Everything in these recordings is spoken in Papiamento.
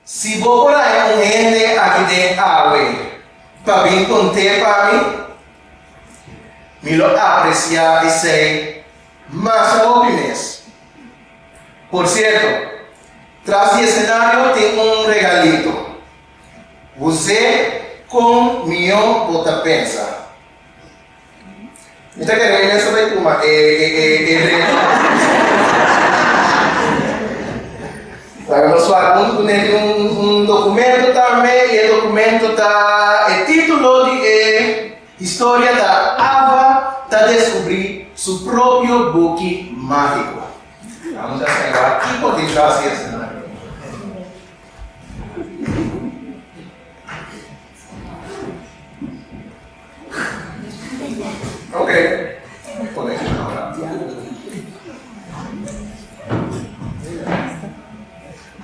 Si bo por haña un hende aki den awe pa bin cont'é pa mi, mi lo apreciá esei masha hopi mes. Por cierto, tras di e scenario tin un regalito. Wuzé con mió bo ta pensa? Mi ta kere mester bay tuma e reto. Laga nos fala un cu nel tin un documento tambe y e documento ta e titulo di e historia ta Ava ta descubri su propio boki magico. Amo ta scai wak ki por tin tras di escenario.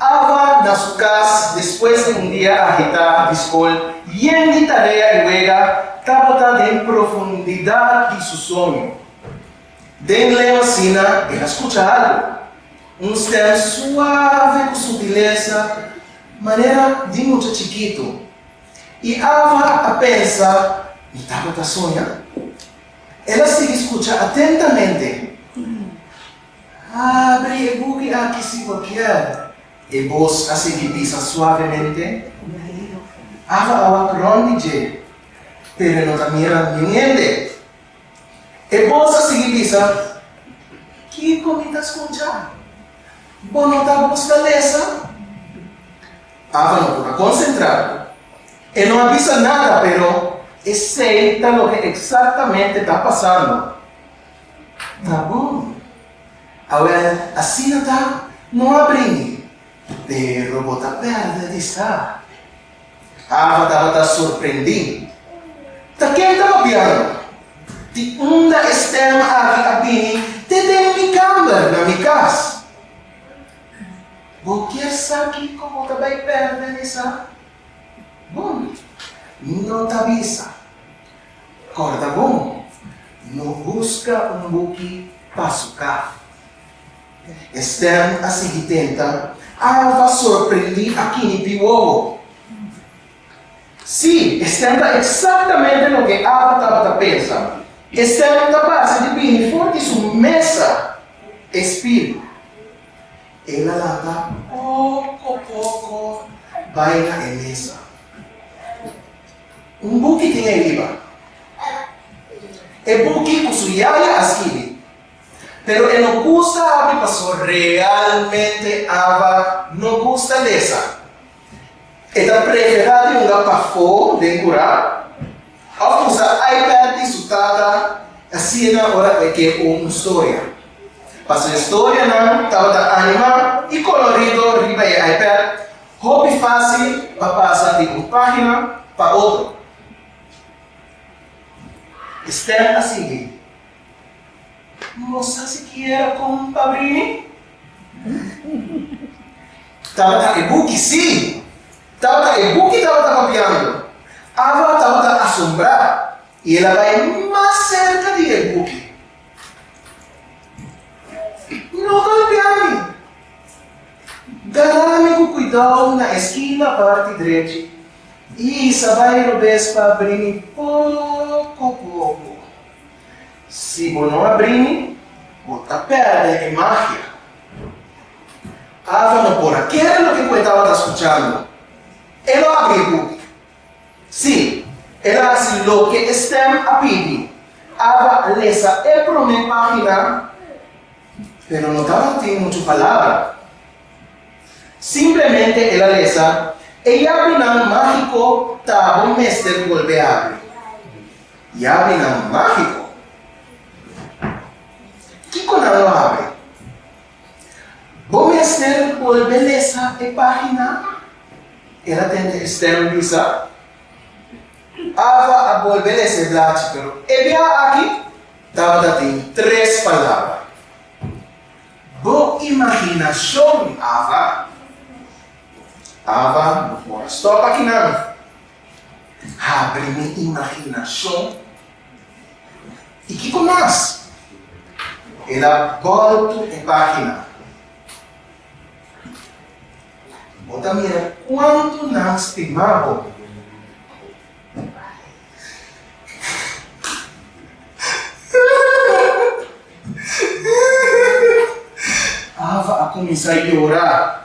Ava na su kas despues di un dia agitá di skol yen di tarea i wega, tabata den profundidat di su soño. Den lema Sina el a skucha algu, un stèm suave ku sutilesa. Manera di mucha chikitu. I Ava a pensa, Mi tata ta soña? El a sigui skucha atentamente. Abri e buki aki si bo kier. E bos a sigui bisa suavemente. Ava a wak rònt di dje, pero e no ta mira niun hende. E mos a sigui bisa, Kiko mi ta skucha? Bo no ta buska lesa? Ava no por a konsentrá. E no a bisa nada, pero esei ta loke eksaktamente ta pasando. Ta bon, awor asina ta, no a bringi. Pero bo ta pèrdè di sa. Ava tabata sorprendí. Ta ken ta papiando? Di unda e stèm aki a bini te den mi kàmber, na mi kas? Bo kier sa kiko bo ta bai pèrdè, Lisa? Bon, no ta bisa. Kòrda bon, no buska un buki pa su ka. Esther a sigui tenta, Alva sorprendi akini di wowo. Sí, e sienta eksaktaménte loke Alva tabata pensa. Esther ta basa di bini for di su mesa e spil. El a lata poko poko bai na e mesa. Un buki tin e riba. E buki ku su yaya a skibi. Pero e no gusta habi paso realmente Ava no gusta lesa. E ta prefera di hunga pafó den curá of usa iPad di su tata asina ora e ke un historia. Pa su historianan tabata animá i colorido riba e iPad, hopi fácil pa pasa di un página pa otro. Esther a sigui, Mosa sikiera kon pa brini? Tabata e buki? Sí, tabata e buki tabata papiando. Ava tabata asombrá i el a bai mas serka di e buki. No golpea mi! Gara mi ku kuidou na e skina parti drechi i sa bai robes pa brini poko poko. Si bo no abrí mi, bo ta pèrdè e magia. Ava no por a kere loke ku e tabata skuchando. E lo abrí e puti. Sí, el a hasi loke e stèm a pidi. Ava a lesa e promé página, pero no tabatin muchu palabra. Simplemente el a lesa, E yabinan mágiko ta bo mester bolbe abri. Yabinan mágiko. Kiko nan lo habri? Bo mester bolbe lesa e página, el a tende e stèm bisa. Ava a bolbe lesa e bladje, pero e bia aki tabata tin tres palabra. Bo imaginashon, Ava? Ava no por a stòp aki nan. habri mi imaginashon i kiko mas? El a bòrtu e página. Bo ta mira kuantu nan stima bo. Ava a kuminsá yora.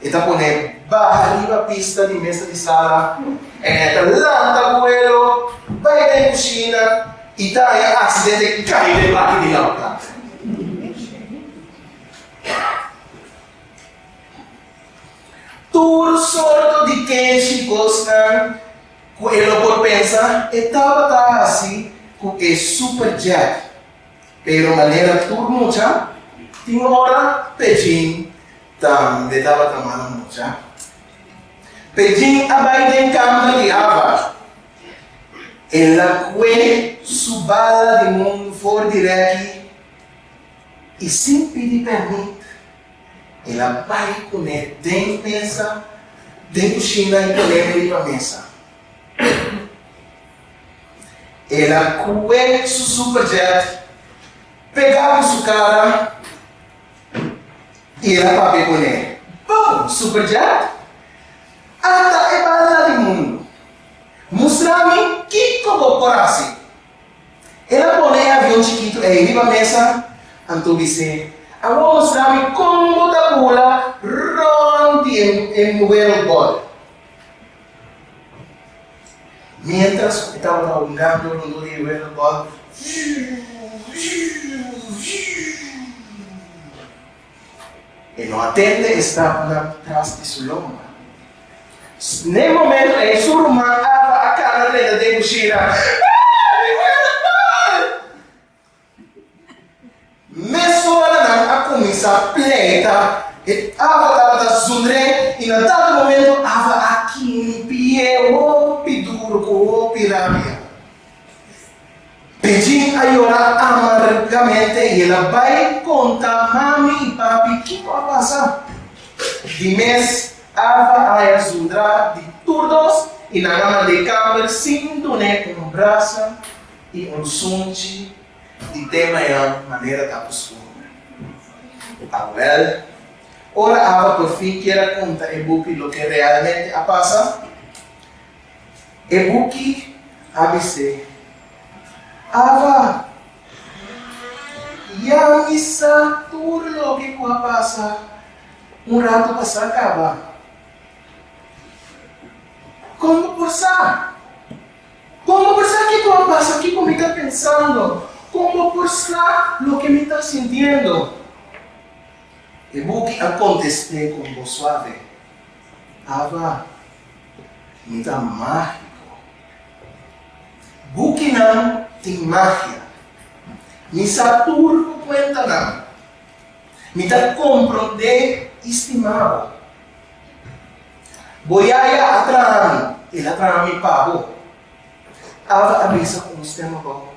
E ta pone baha riba pista di mesa di sala en e ta lanta vuelo bai den kushina i daña hasta den te kai den baki di lanta. Tur sorto di kenshi kosnan ku e lo por pensa e tabata hasi ku e superjet. Pero manera tur mucha, tin ora Pejin tambe tabata mala mucha. Pejin a bai den kama di Ava. El a kue su bala di mundu for di reki i sin pidi pèrmit el a bai kuné den mesa, den kushina i poneme riba mesa. El a kue su superjet, pega ku su kara i el a papia ku ne. Bon, superjet, ata e banda di mundu. Mustra mi kiko bo por hasi. El a pone e avion chikitu ei riba mesa, anto bis'e, Awor mustra mi kon bo ta bula rònt di e world bòl. Mientras cu cu tabata hungando lo lo e weno gol e no a tende e stapnan tras di su lomba. N'e momento en su ruman Alba a cana den den cushina, Aaah! Mes ora nan a kuminsá pleita, e Ava tabata zundr'é i na tal momento Ava a kimpi'é hopi duru ku hopi rabia. Pejin a yora amargamente i el a bai konta mami i papi kiko a pasa. Di mes Ava a haya zundrá di tur dos i nan a mand'é kamber sin dun'é un brasa I un sunchi di tema ya manera ta kustumber. Awèl, ora aba por fin kier a kunta e buki loke realmente a pasa. E buki a bis'é, Aba, ya mi sa tur loke ku a pasa un ratu pasá kaba. Kon bo por sa? Kon bo ta sa kiko a pasa, kiko mi ta pensando? Kon bo por sa loke mi ta sintiendo? E buki a kontest'é ku un bos suave, Ava, mi ta mágiko. Bukinan tin magia. Mi sa tur ku kuentanan. Mi ta komprond'é i stima bo. Bo yaya a traha mi, el a traha mi pa bo. Ava a bisa ku un stèm abou.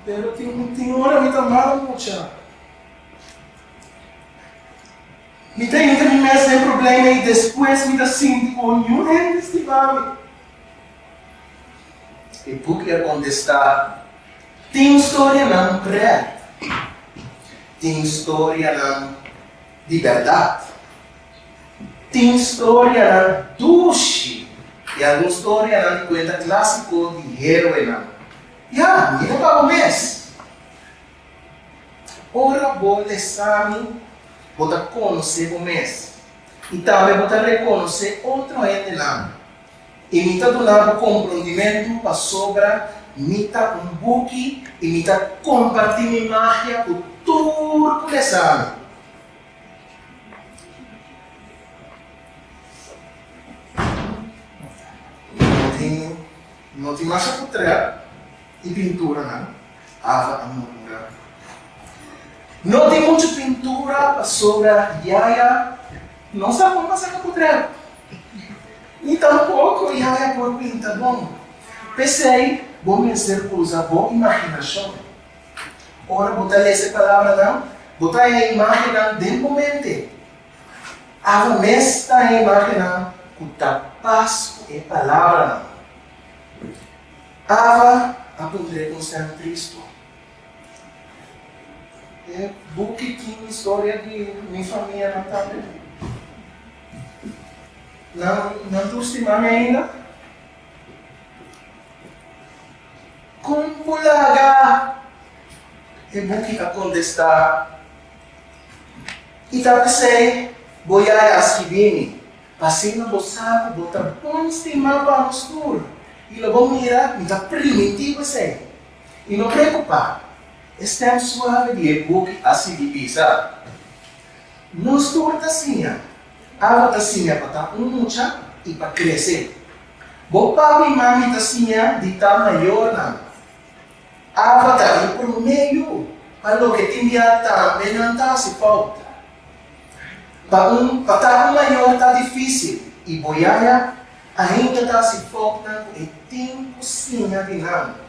Pero tin un tin ora mi ta mal mucha. Mi ta yenta mi mes den problema i despues mi ta sinti ku oñu hende stiba mi. E buk a kontestá, Tin storianan prèt. Tin storianan Di bèrdat, tin storianan dushi i algun storianan di kuenta klásiko di héroenan. Ya, mira pa bo mes. Ora bo lèsami, bo ta konosé bo mes i tambe bo ta rekonosé otro hendenan. I mi ta duna bo komprondimentu pasobra mi ta un buki i mi ta kompartí mi magia ku tur ku e sa mi. No tin masa ku trèp i pinturanan, Ava a murmurá. No tin muchu pintura pasobra yaya no sa bon pa saka ku trèp. Ni tampoko yaya por pinta bon. P'esei, bo mester usa bo imaginashon. Ora bo ta lesa e palabranan, bo ta haña imagennan den bo mente. Ava mes ta haña imagennan ku ta pas ku e palabranan. Ava a puntr'é ku un stèm tristu. E buki tin historia di mi famianan tambe. Nan no tur stima mi ainda? Kon ku laga? E buki a kontestá, I ta p'esei bo yaya a skibí mi, pa asina bo sa ku bo ta bon stima pa nos tur. I lo bo mira, mi ta primintí bo esei. I no preokupá, e stèm suave di e buki a sigui bisa, Nos tur ta siña. Aba ta siña pa ta un mucha i pa krese. Bo papi i mami ta siña di ta mayornan. Aba ta e promé yu pa loke tin bia tambe nan ta hasi fout. Pa un pa ta un mayor ta difísil i bo yaya ainda ta hasi foutnan ku e tin ku siña di nan.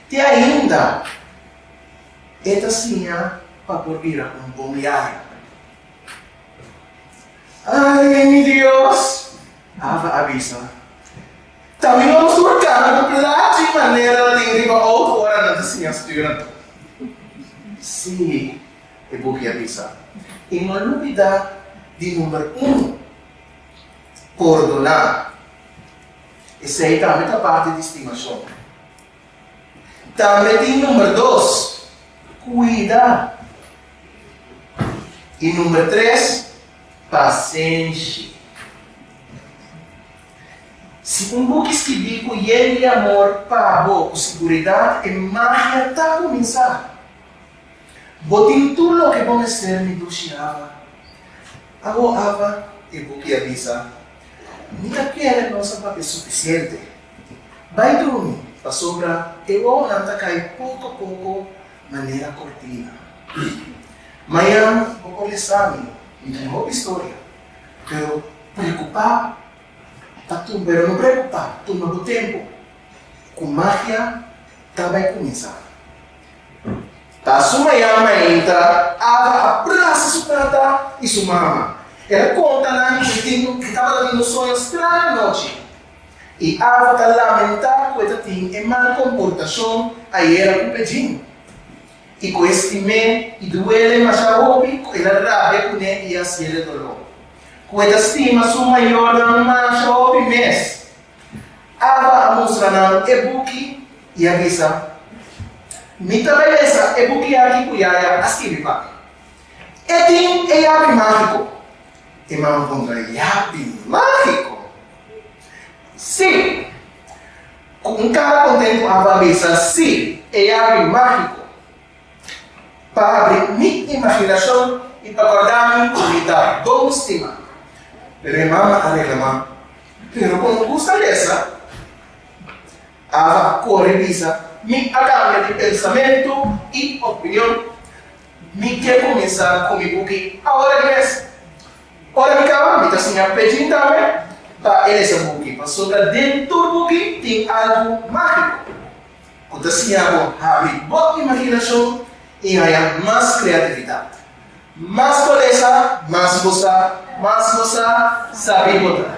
Te ainda e ta siña pa por bira un bon yaya. Ay, mi Dios! Ava a bisa. Ta mi no nos por cana cu plachi y manera ta tin riba auto ora nan ta siña sturen tur. Sí, e buki a bisa. Y no lubida di number uno, pordona. Esey tambe ta parti di stimacion. Tambe tin number dos, cuida. Y number tres, pasenshi. Si un buki skibí ku yen di amor pa bo ku siguridad, e magia ta kuminsá. Bo tin tur loke bo mester, mi dushi Ava. Awo, Ava, e buki a bisa, mi a kere nos a papia sufisiente. Bai drumi, pasobra e wowonan ta kai poko poko manera kortina. Mañan bo por lesa mi un hopi storia, pero preokupá ta tumba, pero no preokupá tumba bo tempu ku magia ta bai kuminsá. Ta su mañan mainta Ava a brasa su tata i su mama. El a konta nan ku e tabata tin un soño straño anochi. I Alva ta lamentá ku e ta tin e mal komportashon ayera ku Bedjine. I ku e stim'é i duele masha hopi ku el a rabia kuné i a hasiel e doló. Ku e ta stima su mayornan masha hopi mes, Alva a mustra nan e buki i a bisa, Mi ta belesa e buki aki ku yaya a skibi pa mi. E tin e yapi mágiko! E mama kontra, Yapi mágiko? Sí! Ku un kara kontentu Ava a bisa, Sí! E yapi mágiko pa habri mi imaginashon i pa kòrda mi ku mi ta bon stima. Pero e mama a reklamá, Pero kon ku sa lesa? Ava a kore bisa, Mi a kambia di pensamentu i opinion. Mi ke kuminsá ku mi buki awor ei mes. Ora di kaba, mi ta siña Pedrin tambe pa e lesa buki, pasobra den tur buki tin algu mágiko ku ta siña bo habri bo imaginashon i haña mas kreatividat. Mas bo lesa, mas bo sa, mas bo sa, sabí bo ta.